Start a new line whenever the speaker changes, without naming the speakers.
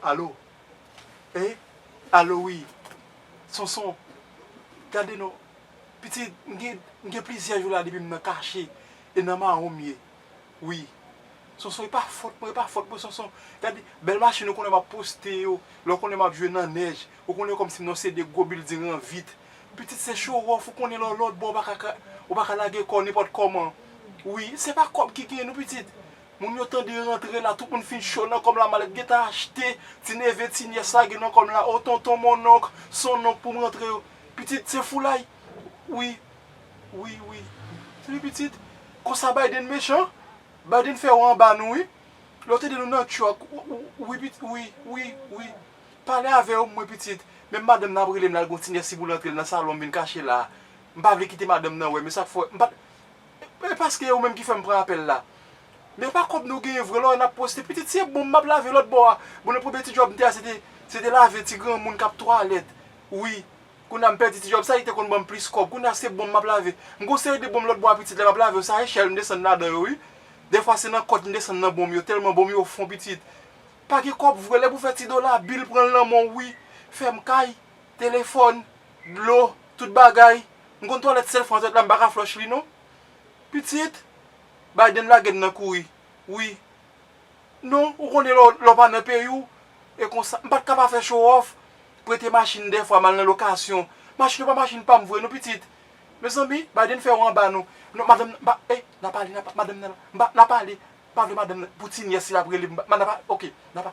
Alo e alo wi sonson gade non pitit m gen plizyè jou la depi m nan kache e nan mawon m ye wi sonson e pa fòt mwen e pa fòt mwen sonson gade bèl machin ou konnen m ap poste yo lè w konnen m ap jwe nan nèj ou konnen kòm si m nan yon seri de gwo bilding an vit Pitit se show off ou konnen lè w lòt bò ou pa ka lage kò nenpòt kòman wi se pa kòb ki gen nou pitit moun yo tande rantre la tout moun fin cho nan kòm la malèt gentan achte ti neve ti nyès lage nan kòm la o tonton monnonk sonnonk pou m rantre yo pitit se foulay wi wi wi wi pitit konsa Biden mechan Biden fè yo anba nou wi lè w tande nou nan truck wi pitit wi wi wi. Pale avè yo mwen pitit, menm madanm nan ap rele m la l gon ti nèf si boul antre l nan salon m vin kache la a. M pa vle kite madanm nan wè m e sa k fè m pa t E paske e ou menm ki fè m pran apèl la. Men e pa kòb nou genyen vre lò e n ap poste pitit si e bonm m ap lave lòt bò a. Bon nan premye ti djòb m te a se te se te lave ti granmoun k ap twalèt wi. Kounye a m pèdi ti djòb sa li te konn ban m plis kòb. Kounye a se bonm m ap lave. M gon seri de bonm lòt bò a pitit lè m ap lave yo se a echèl m desann ladan yo wi. Dèfwa se nan kòt m desann nan bonm yo tèlman bonm yo fon pitit. Pa gen kòb vre lè pou fè ti dola bil pran nan menw wi fèm kay, telefòn, dlo, tout bagay m konn twalèt sèl fwa zòt la m paka flòch li non pitit Biden lagem nan kouri wi non ou konnen lèw pa nan peyiw e konsa m pat ka pa fè chowòf prete machin dèfwa mal nan lokasyon machin yo pa machin pam vre non pitit Mezanmi Biden fè ou anba nou non madanm nan pa eh nan pale nan madanm nan la nan pale pa vle madanm nan pou ti nyès li ap rele nan pa ok nan pa.